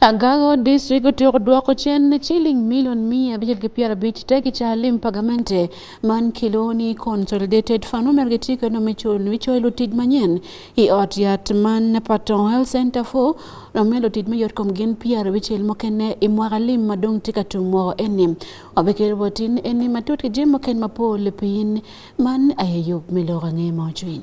Agago district otieko dwoko chen chiling milion mia abich gi piero abich te gi chalim pagamente man Kiloni Consolidated Fund omer gi tiko no michul michoilo tij manyien i ot yat man Patong Health Center fo nomelo tij mayot kom gin piero abichiel mokene i mwaka lim madong tika tung mwoko eni obekel botin eni matut ki jim moken mapol pin man ayeyub miloko ang'e ma ocwiny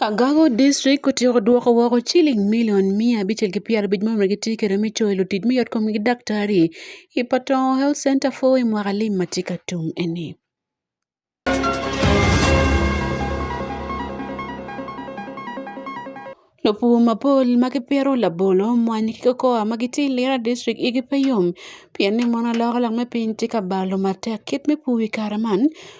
Agago district kotieko duoko woko chiling milion mia abichiel gi piero abich momre gi tikere michulo e lotij miyot kom gi daktari i Patong Health Center for i mwaka lim ma tye ka tum eni. Lopur mapol ma gipito labolo, mwanyi ki kokoa ma gitye i Lira district igi pe yom pien ni mono aloko lok me piny tye ka balo matek. Kit me pur i kare man,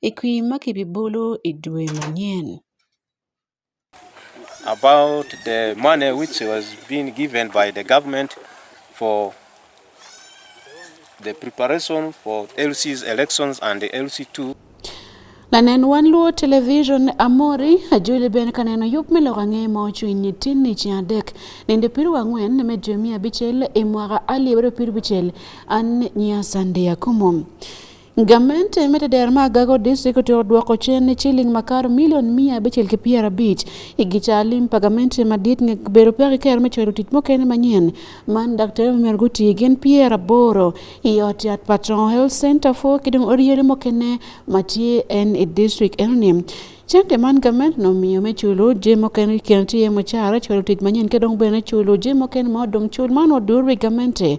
i kwir ma kibibolo i dwe manyen. About the money which was being given by the government for the preparation for LC's elections and the LC2 lanen wan luo television amori ajuli ben kaneno yup me lok ang'e ma ocwiny ni tin ni ceng adek nende piru ang'wen me dwe miya abicel i mwaka alye abiro piru bicel an nyiya sande akumo Gamente e metedeer ma agago district otioro duoko chen ne chiling makar milion mia abichiel gi piero abich igicha lim pagamente madit nge bero pek iker me chwero tich mokene manyien man daktari omer guti gen pier aboro iot yat patron health center fo kidong oriere mokene matie en e district enoni Cente man gamen no miyo me chulo je moken ken tiye mo chara chulo tich manyen kedong bene chulo je moken mo dong chul man odurwe gamente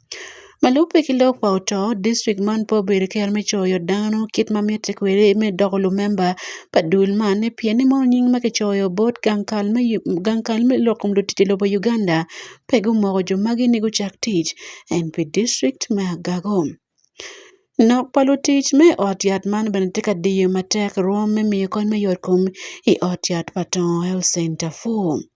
Ma lubbe ki lok pa oto, distrik man pe obedo ki kit me coyo dano kit ma mitte kwede me doko lumemba pa dul man pien ni mono nying ma kicoyo bot gang kal me gang kal me lok kom lutic i lobo Uganda pe gumoko jo magi ni gucak tic eng pi distrik me Agago. Nok pa lutic me i ot yat man bene tye ka diyo matek rwom me miyo kony me yot kom i ot yat pa Tongo Health Center four.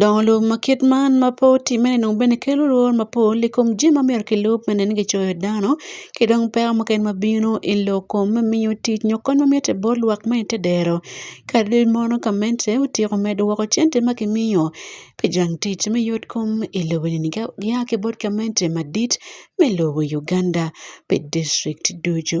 Dong lub ma kit man ma pe otimme ni dong bene kelo lworo mapol i kom jami ma myero kilub me neno kicoyo dano ki dong peko mukene ma bino i lok kom me miyo tic nyo kony ma mitte bot lwak ma ite dero kadi mono gamente otyeko medo woko cente ma kimiyo pi jang tic me yot kom i lobo eni ka gia ki bot gamente madit me lobo Uganda pi dicrik ducu.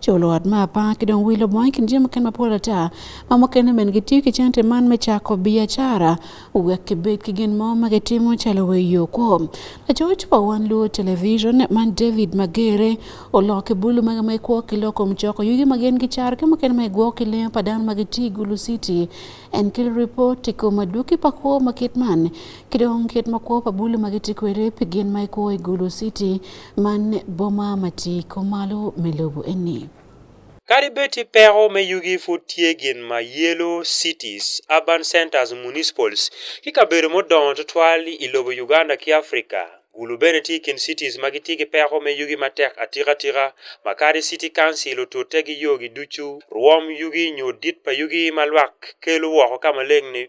Co luot me apar ki dong wilo bongo i kin jami mukene mapol ata ma mukene bene gitiyo ki cente man me cako biacara wek kibed ki gin mo ma gitimo calo weyo kwo lacoc pa wan luo television man david magere oloko ki bulu magi ma ikwo ki loko mucoko yugi ma gin gicaro ki mukene ma igwoko ki lengo pa dano ma gitye i gulu city en kelo ripot i kom adwoki pa kwo ma kit man ki dong kit ma kwo pa bulu ma gitye kwede pi gin ma ikwo i gulu city Man boma ma tye i kom malo me lobo eni. Kadi bed ti peko me yugi pud tye gin ma yelo cities, urban centers, municipals ki kabedo mudongo tutwal i lobo Uganda ki Africa. Gulu bene ti i kin cities ma gitye ki peko me yugi matek atikatika ma kadi city council otute ki yogi ducu, rwom yugi nyo dit pa yugi ma lwak kelo woko ka maleng ni.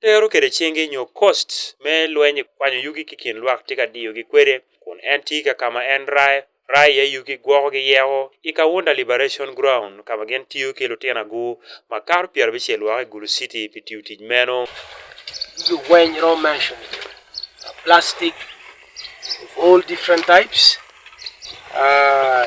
Tero kede chingi nyo kost me lweny kwanyo yugi ki kin lwak tye ka diyogi kwede kun en tye ka ka ma en rayo rayo iye yugi gwoko ki yeko i Kawunda Liberation Ground ka ma gin tiyo ki lutino agur makato pyera abicel woko i Gulu City pi tiyo tic meno. Yugi weng iromo mention uh, plastic of all different types uh,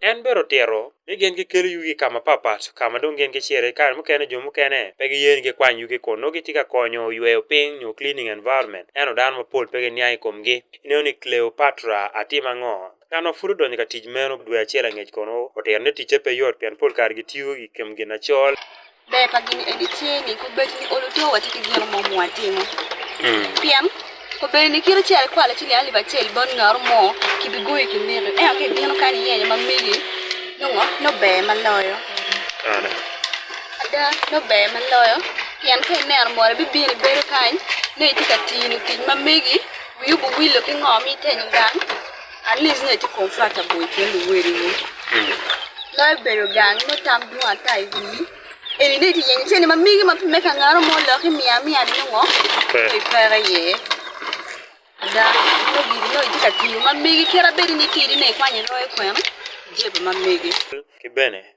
En bero tyero ni gin gikelo yugi ka mapatpat ka ma dong gin giciro. I kare mukene jo mukene pe giye ni gikwany yugi kun nongo gitye ka konyo yweyo piny nyo cleaning environment. Ento dano mapol pe giniang i komgi. Ineno ni Cleopatra atimo ango? Ng'ano furu donyo ka tij meno dwe achiel ang'ech kono otero ne tije pe yot pian pol kar gi tiyo gi kem gina chol. Be pa gini edi chini ku bet ni olu to wati ki gino mo mo atimo. Hmm. Pian ko be ni kiro chel kwa la chili ali ba chel bon ngar mo ki bi goyi ki mire. E ake gino kan ye ma mili. No no be ma loyo. Ana. Ada no be ma loyo. Pian ke ner mo bi bi ni bedo kan. Ne itika tini tij ma migi. Wiu bu wilo ki ngo mi ten gang. At least ne ti confront a boy ken weri ni. Lo bero gang no tam du ata i wi. Eri ne ti yenyi cheni ma migi ma me ka ngaro mo lo ki mia mia ni ngo. Ki pere ye. Da no gi no ti ka ti ma migi kera beri ni ti ni ne kwanye lo e kwem. Jebe ma migi. Ki bene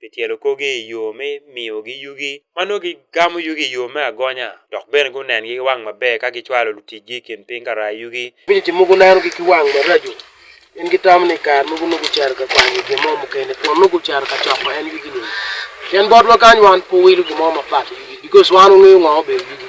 pi tyelo korgi i yo me miyogi yugi ma nongo gigamo yugi i yo me agonya dok bene gunengi ki wang maber ka gicwalo luticgi i kin piny ka raa yugi. Piny ci mogo nenogi ki wang maraco, pien gitamo ni i kare mogo nongo gucito ka kwanyo gin mo mukene kun nongo gucito ka coko en yugi-ni. Pien botwa kany wan pe wawilo gin mo mapat i yugi bikos wan wangeyo ngo ma obedo yugi.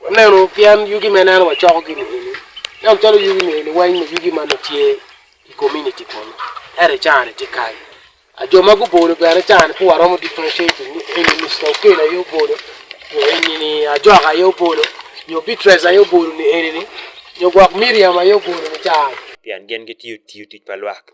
Waneno pien yugi ma ineno wacoko gi ni eni. Nam chalo yugi ni eni weng' ni yugi ma tye i community kono. Ere can ti kai. A jo ma gubolo bene can ku waromo differentiating ni eni Mr. Okel aye obolo. Yo eni ni Ajok aye obolo. Yo Beatrice aye obolo ni eni ni. Yo gwok Miriam aye obolo ni can. Pien gin gitiyo tiyo tic pa lwak.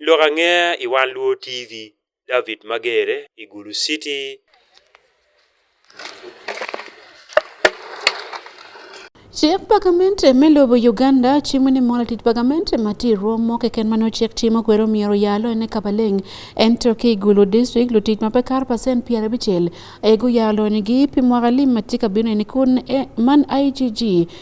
Lok ange i One Luo TV, David Magere i Gulu City. Chik pagament me lobo Uganda chimo ni mola tit pagament ma ti romo keken ma nocek timo kwero miero yalo ene kabaleng en to ki gulu district lo tit ma pe kar pasen pier abichel ego yalo ni gi pi mwaka lim ma tika bino ene kun e, man IGG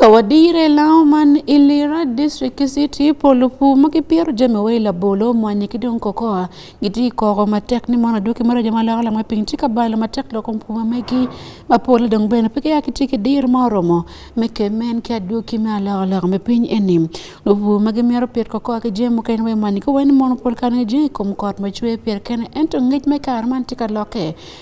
Kawadire law man Ilira district city polo pu ma kipyero jami wa ila bolo mwanye ki dong kokoa giti koko matek ni mono duki mara jama loko lamwe piny ti ka balo matek loko pu ma megi ma polo dong bene peke ya kiti ki dir ma oromo me ke men ki aduki me aloko loko me piny eni lo pu ma gimyero pyet kokoa ki jami mukene we mwanye ki wen mono pol kane jeng kom kot ma chwe pyet kene ento ngec me kar man ti ka loke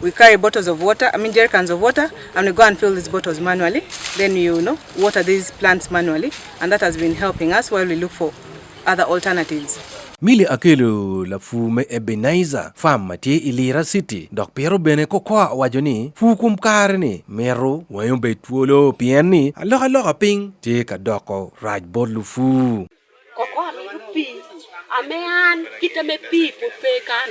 we carry bottles of water, I mean jerrycans of water, and we go and fill these bottles manually. Then you know water these plants manually, and that has been helping us while we look for other alternatives. Mili Akelu la fu me Ebenezer fam ma tye i Lira City dok piro bene kokoa wajo ni fu kum kare ni mero wayo be twolo pien ni aloka loka piny tye ka doko raj bot lufu. Kokoa mito pii ame an kita me pii put pe kan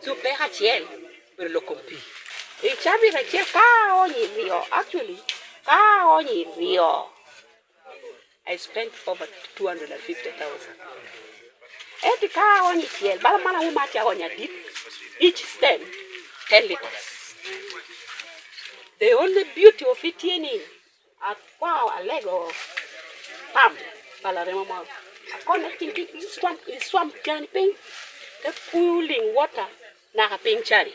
Supe achiel ber loko pi. Ichabi achiel ka onyi riyo. Actually, ka onyi riyo. I spent over 250,000. Eti ka onyi chiel, bala mana uma cha onya dip. Each stem 10 liters. The only beauty of it in Akwao alego pam bala remo mo. Akone ting ting swam i swam jani ping. Te pooling water na ka ping chari.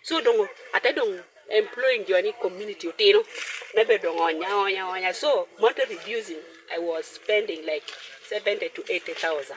So dongo ate dongo employing jani community utino. Nebe dongo onya onya onya. So monthly reducing I was spending like 70 to 80,000.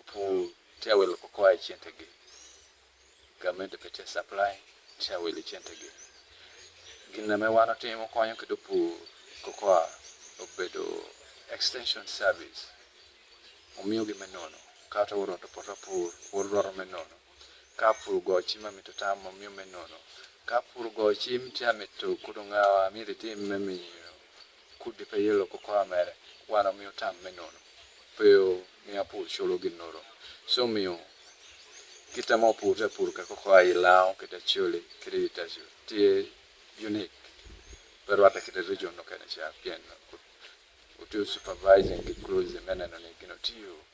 Opu tiawelo kokoa e chentegi. Gamed pete supply tiawelo e chentegi. Gina me wano timo konyo kedo pu kokoa obedo extension service. Omiyo gi menono. Kata oro to poto pur, oro dwaro menono. Ka pur gochi ma mito tamo omiyo menono. Ka pur gochi mtia mito kudo ngawa miri tim memiyo. Kudde pe yelo ko kora mere wan omiyo tam me nono pe o miya pur cholo gin noro. So omiyo kita mo pur ta pur ka koko ayi lao kita chole kita yi ta chole. Tiye unique pe rwata kita region no kene cha pien o tiyo supervising ki closely me neno ni gino tiyo.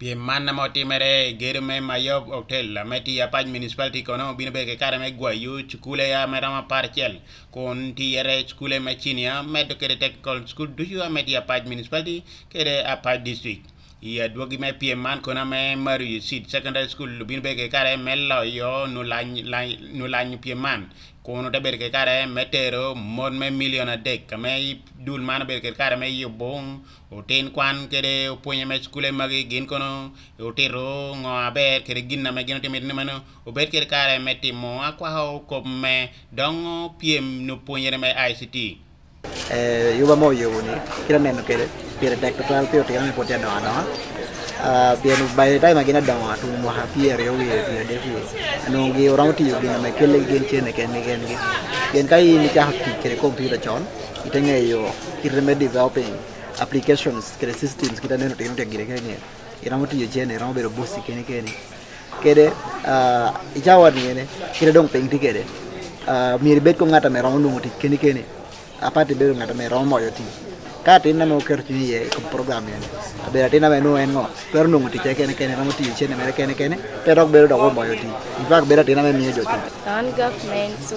Piem man ma otimere e gedo me Mayog Hotel me Tiya Pac Municipality kono obino bedo ki kare me gwayo cukule a ma romo aparcel kun tiyere cukule me cinia medo kede technical school ducu a me Tiya Pac Municipality kede a Pac District. I adwogi me piem man kono me Mario Seed Secondary School obino bedo ki kare me loyo nulanyo piem man kun ote bedo ki kare me tero mon me milion adek ka me dul man obedo ki kare me yubo Otin kwan kede opwonye ma cukule magi gin kono otito ngo aber kede gin ame gin otimo ni mano obed kede kare me timo akwaka okop me dong pyem no pwonyere me ICT. Eh, yuba mo yobo ni kira neno kede pire tek total pire tira ni potia donga donga ah, pien by the time agina donga tu mo ha pire yo ye pire de pire anu gi orang ti yo gina me kele gen chene ken gen gen kai ni cha hakki kede computer chon Iteng'eyo kit remedy developing applications kata systems kita neno tino tegire kenye ira motiyo chene ira mobedo bosi kene kene kede uh, ichawa niene kede dong peng ti kede uh, mieri bet ko ngata mera onungo ti kene kene apati bedo ngata mera omoyo ti ka tin nama oketo chunyi ye kom program yen abeda tin nama enu en ngo kwero nungo ti kene kene ira motiyo chene mera kene kene pero ok bedo dok omoyo ti in fact bedo tin nama miyo joti an government so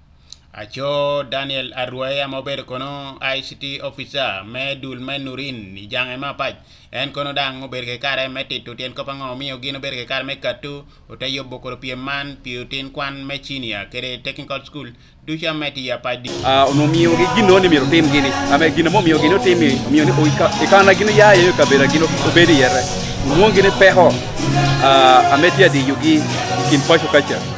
Aco Daniel Arwaya ma obedo kono ICT officer me dul me Nurin i jange ma apac en kono dang obedo ki kare me tito tyen kop ango miyo gin obedo ki kare me katu ote yobo koro pyem man pi otin kwan me cinia kede technical school duca me tiya pa di ah ono miyo gi gino ni miro tim gini ame gino mo miyo gino timi miyo ni ikana gino ya yo kabera gino obedi yere muongi ni peho ah ame tiya di yugi kin pacho kacha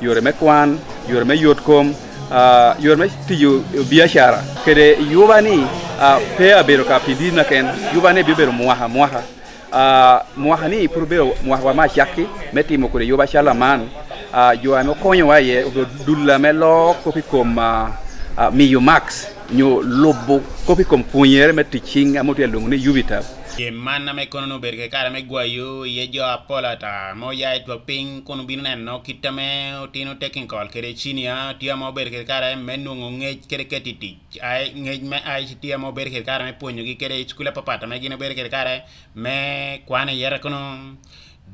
yore me kwan yore me yot kom uh, yore me tiyo biashara kede yuba ni uh, pe abedo ka pidi na ken yuba ne bibedo mwaha mwaha uh, mwaha ni pur bedo mwaha wa ma chakki me timo kode yuba shala man uh, jo ame okonyo wa ye obedo dulla me lo kopi kom uh, uh, miyo max nyo lobo kopi kom punyere me ticing amotu ya lungu ni yubitab Ye man na me kono no berke kara me gwayo ye jo apola ta mo ya etwa ping kono bino neno kit ma otino technical kede chini a tye ma obedo kede kare me nongo ngec kede keti tic ngec me aic tye ma obedo kede kare me pwonyogi kede i cukule papata ma gin obedo kede kare me kwan iyere kono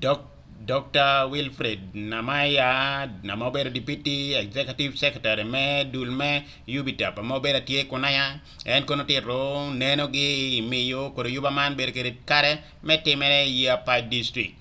dok Dr. Wilfred Namaya na ma obedo Deputy Executive Secretary me dul me Ubitap ma obedo tye kunaya en kono tito nenogi miyo kod yuba man bedo kede kare me timere i Apac District.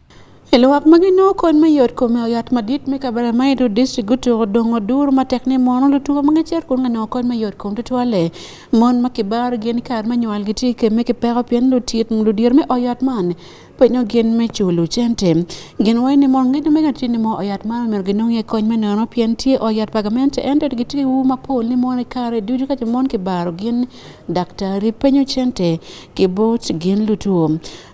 E lwak ma gin oko en me yot kome oyat madit me kabara ma idu district gutuko dongo dur ma tek ni mono lutuko ma ngecer kun ngane oko en me yot kom tutwale mon ma kibar gin kar me nywal gi tike me kipeko pien lutiet ludir me oyat man penyo gin me chulu cente gin wai ni mon ngejo mega tini mo oyat man mer gin ngi kony me nono pien tie oyat pagamente ente gi tike wu ma pol ni mon kare duju ka mon kibaro gin daktari penyo cente kibot gin lutuo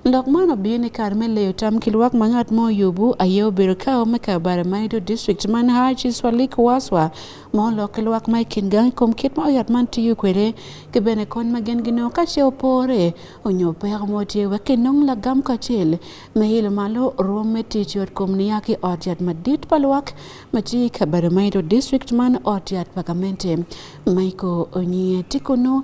Lok man obiyo ni kar me leyo tam ki lwak ma ngat mo oyubu aye obedo ka ome ka bara ma ido district man Haji Swalik Waswa ma olok ki lwak ma ikin gang i kom kit ma oyat man tiyo kwede ki bene kony ma gin ginongo ka ce opore onyo peko mo tye wek kinong lagam kacel me ilo malo rwom me tic yot kom niya ki ot yat madit pa lwak ma tye ka bara ma ido district man ot yat pa gamente Michael Onyie Tikunu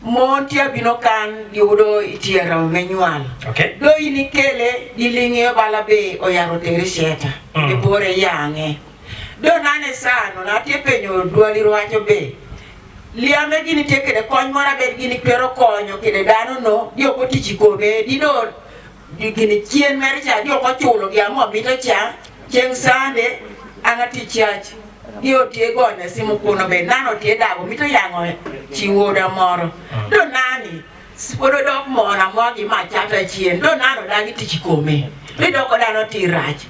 Mon tye abino kan giyudo i tyero me nywal. Okay. Do in ikele gilinge bala be oyaro tere sheta. Mm. Ibore yange. Do nane sano na tye penyo dwali rwacho be. Liame gini tye kede kony mora bed gini twero konyo kede dano no. Di oko tichi kome. Di do Gini chien mere cha jok ochulo gi ang'o mito cha chieng' sande an ati church gi otie gonya simu kuno be nano tie dago mito yang'o chiwoda moro do nani pod odok mona mogi ma chata chien do nano dagi tich kome idoko dano ti rach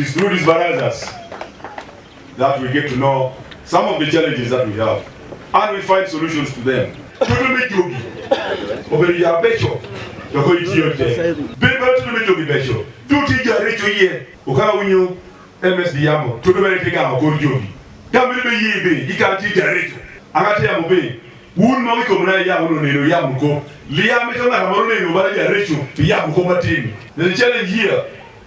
It's through these barazas that we get to know some of the challenges that we have and we find solutions to them. Tutumijugi oberia becho yoko itiyote biba tutumijugi becho tutija richo ye ukala unyu MSD yamo tutumerekega akorjogi kamiri be yibe ikanti jaricho akati yamo be un ma wiko mna ya uno neno ya mko liya mitona kamaro neno bala jaricho ya mko matini the challenge here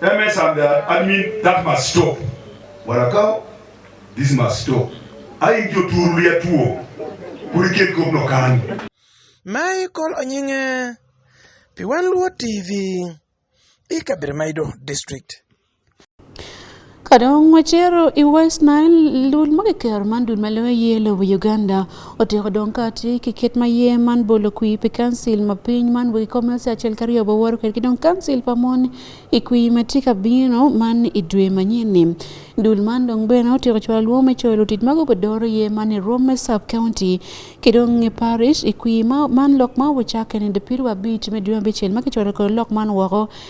That means I'm the admin, that must stop. Warakao, this must stop. Ayi jo turu ya tuo, kuri ket kop no kani. Mai kol onyinge, piwan luo TV, ikabir maido district. Kadong wacero i West Nile dul ma kikero man dul ma lewe ye lobo Uganda otiko dong kati ki kit ma ye man bolo kwi pi kansil ma piny man wegi kome se acel ka ryo baworo kwede ki dong kansil pa mon i kwi ma tye ka bino man i dwe manyeni dul man dong bene otiko cwalo lwongo me coyo lutit ma gubidoro ye man i Rome sub county ki dong i parish i kwi man lok ma obucakke ni dipiri wa abic me dwe abicel ma kicwalo kor lok man woko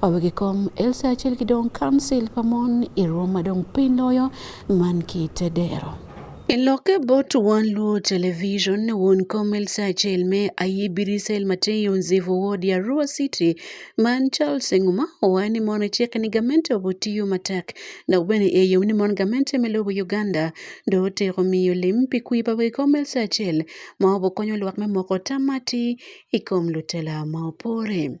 Wawegi kom Elsa achiel gi dong kansil pa mon i rwom madong piny loyo man ki te dero. I lokke bot wan Luo Television, won kom Elsa achiel me aye Birisel Mateo Nzivu Ward ya Arua City man Charles Nguma owaye ni mon ecek ni gamente obo tiyo matek dok bene eyo ni mon gamente me lobo Uganda do otiko miyo lim pi kwi pa wegi kom Elsa achiel ma obo konyo lwak me moko tamati i kom lutela ma opore.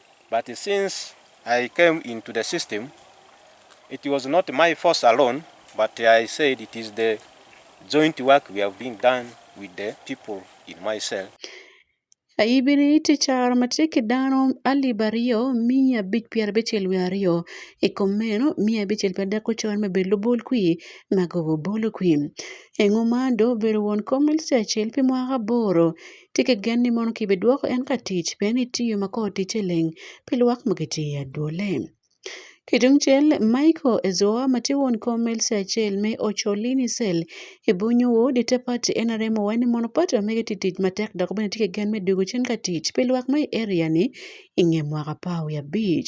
But since I came into the system, it was not my force alone, but I said it is the joint work we have been done with the people in my cell. Ayibiri ticharo matiki dano alib aryo miya abic pyera abicel wiye aryo i kom meno miya abicel pyera dek ocon me bedo lubol kwi ma gogo bolo kwi engo ma do obedo won kom LC acel pi mwaka aboro Ti ki gen ni mono kibidwoko en ka tic pien ni tiyo ma kor ticce leng pi lwak ma gitye i adwolle. Ki tungcel, Michael Ezoa ma tye won kom ma LC acel me Ocholini Cell i bunyu wod i te pati nrm owaco ni mono pati ma mege tye tic matek dok bene tye ki gen me dwogo cen ka tic pi lwak ma i area-ni i nge mwaka apar wiye abic.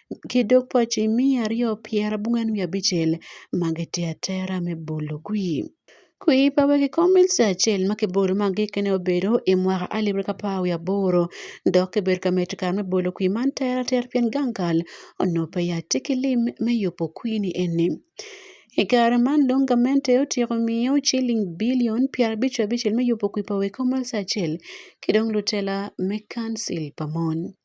kidok pɔc i miya aryo pyerabongwen wiye abicel ma gitye atera me bolo kwir. Kwir pa wegi kom mil ca acel ma kibolo ma gikkene obedo i mwaka alip aryo ki apar wiye aboro dok kibedo ka medo kare me bolo kwir man tere atera pien gang kal onongo pe yat ci ki lim me yubo kwir ni eni. I kare man dong gamente otyeko miyo ciling bilion pyerabic wiye abicel me yubo kwir pa wegi kom mil ca acel ki dong lutela me kancil pa mon.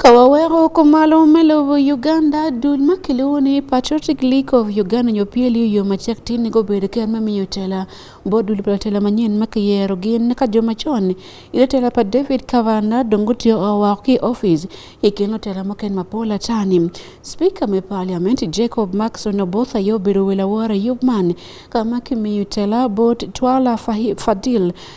Kawawero ko malo melowo Uganda, dul ma kiluwo ni Patriotic League of Uganda nyo PLU yo machak tin go bedo ker ma miyo tela bo dul pa tela manyen ma kiyero gin ka joma chon ilo tela pa David Kavana dongo tiyo owa ki office ikino tela mo ken mapola tani Speaker me Parliament Jacob Maxon Obotha yo bedo wela wora yubman kama kimiyo tela bot twala fadil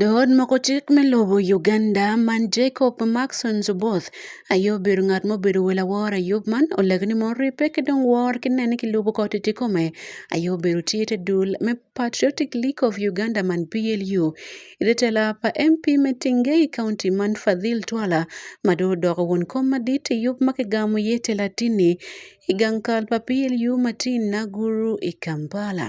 Dood moko chik miluwo Uganda man Jacob Maxon Zuboth ayub bedo ngat ma obedo wel awor ayub man oleg ni mon ripe ki dong wor ki nene ki lubo koti ti kome ayub bedo tye te dul me Patriotic League of Uganda man PLU ite tela pa MP me Tingei County man Fadhil Twala ma do odoko won kom madit ayub ma kigamo ye tela tini i gang kal pa PLU Martin Naguru i Kampala.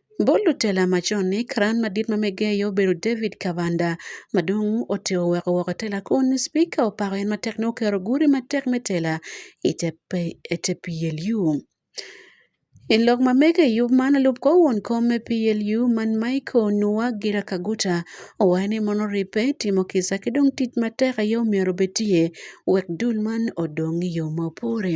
Bol lutela macon ni karan madit ma megeyo obedo David Kabanda ma dong ote oweko woko tela kun Spika opako en matek ni okero gudi matek me tela i te PLU. I lok ma mege i yub man lub kor won kom me PLU man Michael Nua Gira Kaguta owayo ni mono ribbe timo kisa ki dong tic matek aye omyero obed tye wek dul man odong i yo ma opore.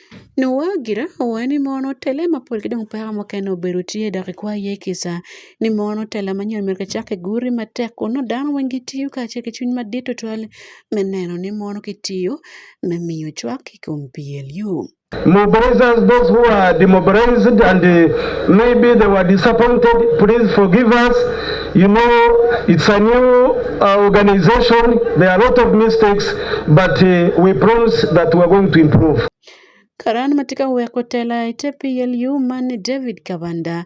Nyo gire owaye ni mon otele ma pol kidong pera mokene obedo tye dok ikwa ye kisa ni mon otele ma nyon mege cake guri matek kun no dano weng gitiyo kace ki cwiny madit tutwal me neno ni mon kitiyo me miyo cwak i kom PLU. Mobilizers, those who are demobilized and uh, maybe they were disappointed, please forgive us. You know, it's a new uh, organization. There are a lot of mistakes, but uh, we promise that we are going to improve. Karan matika we kotela ite PLU man David Kabanda.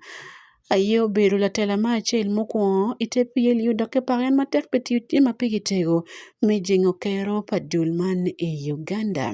Ayo bedo latela ma acel mukwongo i te pye liyo dok ki pake en matek pi tiyo tye ma pigi tego me jingo kero pa dul man i Uganda.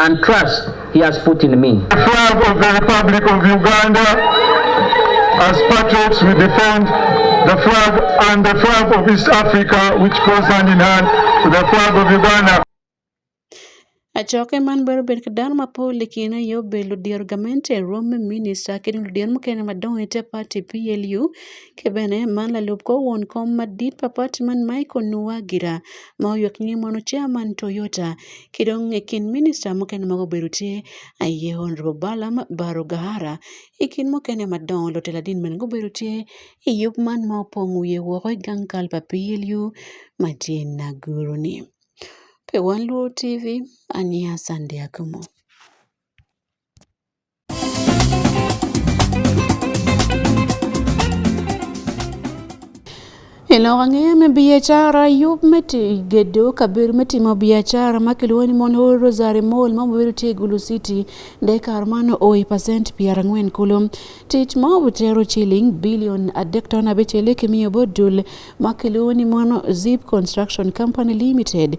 and trust he has put in me. The flag of the Republic of Uganda, as patriots we defend the flag and the flag of East Africa which goes hand in hand with the flag of Uganda. Achoke man bero bet kadan ma po likina yo belo dier gamente rom minista kini dier mukene madong ite party PLU kebene man lalup ko won kom madit pa party man Michael Nuwagira ma oyuak nying mano chairman Toyota kidong e kin minista mokene mago bedo tie aye Honorable Balaam Baro Gahara e kin mokene madongo lotelo adin men go bedo tie e yup man ma opong wiye woko e gang kal pa PLU matin na guru ni. Pe wan Luo TV, ania Sandia Kumo. Ilok ang'eya me biacara yub me gedo kabir me timo biacara ma kiluwo ni mon Rosary Mall ma mobiro tie Gulu City de kar mano oi pasent piero ang'wen kulo tich ma obutero chiling bilion adek ton abich eleki miyo bodul ma kiluwo ni mono Zip Construction Company Limited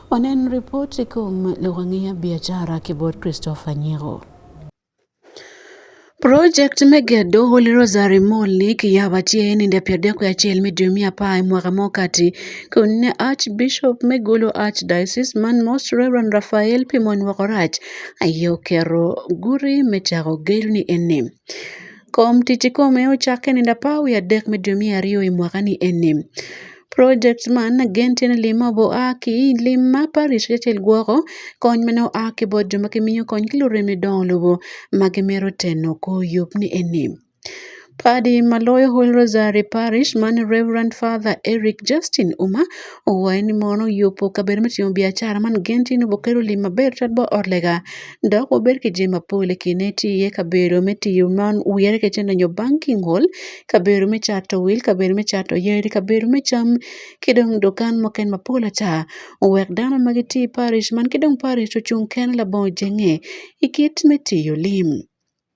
Onen ripot kuom lugang'ia biashara kibor Christopher Nyego. Project me gedo Holy Rosary Mall ni kiyabatie ni nda pier dek achiel me dwe mia apar e mwaka mokati kun ne Archbishop me Gulu Archdiocese man Most Reverend Raphael Pimon Wokorach ayo kero guri me chako gedo ni enim. Kom tich kome ochak e nindo apa wiye adek me dwe mia ariyo e mwaka ni eni. Project man gen tye ni lim ma oa ki i lim ma parish acel gwoko kony mene oa ki bot jo ma gimiyo kony ki lurem ni dongo lobo ma gimito teno kor yub ni eni. Padi ma loyo Holy Rosary Parish man Reverend Father Eric Justin Uma owaye ni mono oyie opo kabedo me timo biacara man gen tye ni obokelo lim maber twat ba ot lega dok wabed ki jami mapol i kine tye iye kabedo me tiyo man wire kacel nyo nyo banking hall kabedo me cato wil kabedo me cato yadi kabedo me cam ki dong dukan mukene mapol ata owek dano ma gitye i paric man ki dong paric ocung kene labongo jenge i kit me tiyo lim.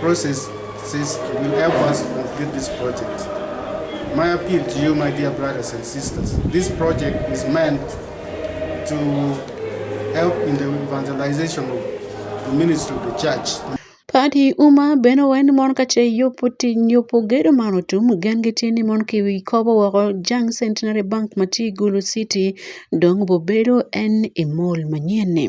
process says will help us to complete this project. My appeal to you, my dear brothers and sisters, this project is meant to help in the evangelization of the ministry of the church. Kadi uma bene wen mon kace yopo ti nyopo gedo man otum gen gitye ni mon ki wi kobo woko jang centenary bank ma tye i gulu city dong bobedo en i mol manyen-ni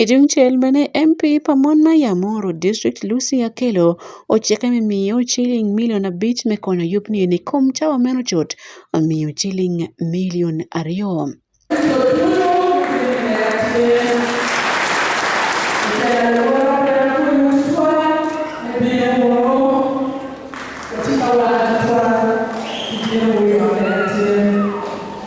Etii mchel mane MP Pamon Maya Moro, Distrikt, Lusi Akello ochieke mi miyo chiling milion abich me konyo yupni eni kom cawa meno cot omiyo chiling milion aryo.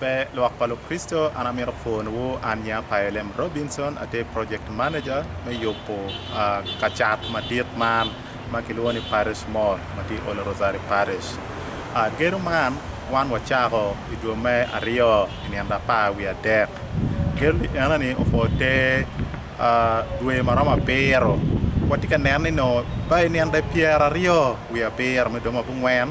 Be lwak pa Lukristo an amito pwonowu an Nya Paelem Robinson atye project manager me yubo uh, kacat madit man ma kilwongo ni Parish Mall ma tye Ole Rosari Parish. Uh, gedo man wan wacako i dwe me aryo i nino apar wi adek. Gedo ni ena ni opwo te uh, dwe ma romo abiro. Watye ka neno ni no ba i nino pyeraryo wi abiro me dwe ma bungwen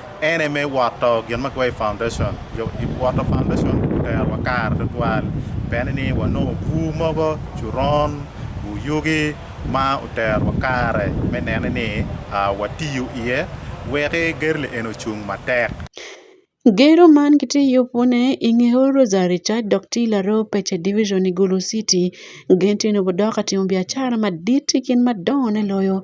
En aye me woto gin ma kiwaco i foundation, jo i woto foundation oterowa kare tutwal pien ni wanongo bur mogo, coron, bur yugi ma oterowa kare me nene ni ah, watiyo iye weki gedo li eni ocung matek. Gedo man kitiyo pune i nge Old Rosary Church dok tye i Laroo Pece Division i Gulu City. Gin tye nongo dok ka timo biacara madit ki gin madongone loyo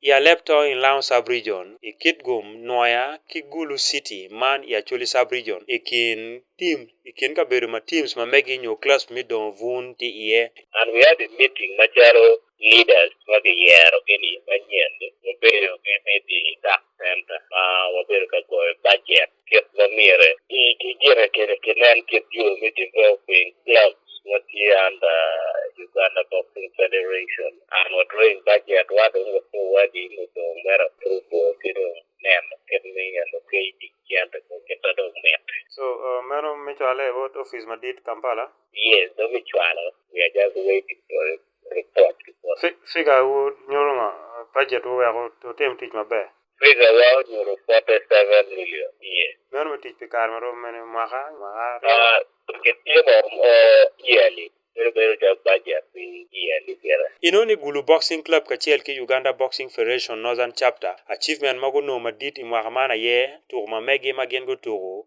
i Alepto in Laon Sub-Region, i Kitgum, Nwoya ki Gulu City, man i Acholi Sub-Region, i kin tim, i kin kabedo ma teams ma megi nyo clubs mi dongo bun tye iye. And we had a meeting macalo leaders ma giyero gi ni manyen ni, wabedo ki meeting i tax center ma wabedo ka goyo budget. thieth ma miere gi gi gere kere ke ne en thieth yo mi developing clubs watie under Uganda Boxing Federation and we're doing budget wado ngo so wadi ngo so mera tubo kiro nem kemi and okay di kianda ko keta do met So uh, mano michwale e wot ofis madit Kampala. yes do mi chwalo we are just waiting for it report gi pol. Figa u nyoro nga budget u weko to tem tic maber. Figa wa onyoro 47 million iye. Meno me tic pi kare marom mene mwaka mwaka. Ah, gitye mo yearly. Bedo bedo jog budget pi yearly gere. Ino ni Gulu Boxing Club kacel ki Uganda Boxing Federation Northern Chapter achievement ma guno madit i mwaka man aye tuku ma megi ma gin gutuku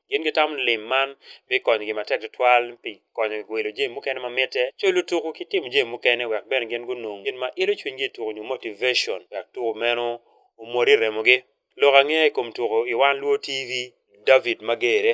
Gin gitamo ni lim man bikonyogi matek tutwal pi konyogi wilo jami mukene ma mitte, cwalo tuku, ki timo jami mukene wek bene gin gunong gin ma ilo cwinygi i tuku nyo motivation wek tuku meno omwodi i remogi. Lok angeya i kom tuku i One Luo TV, David Magere.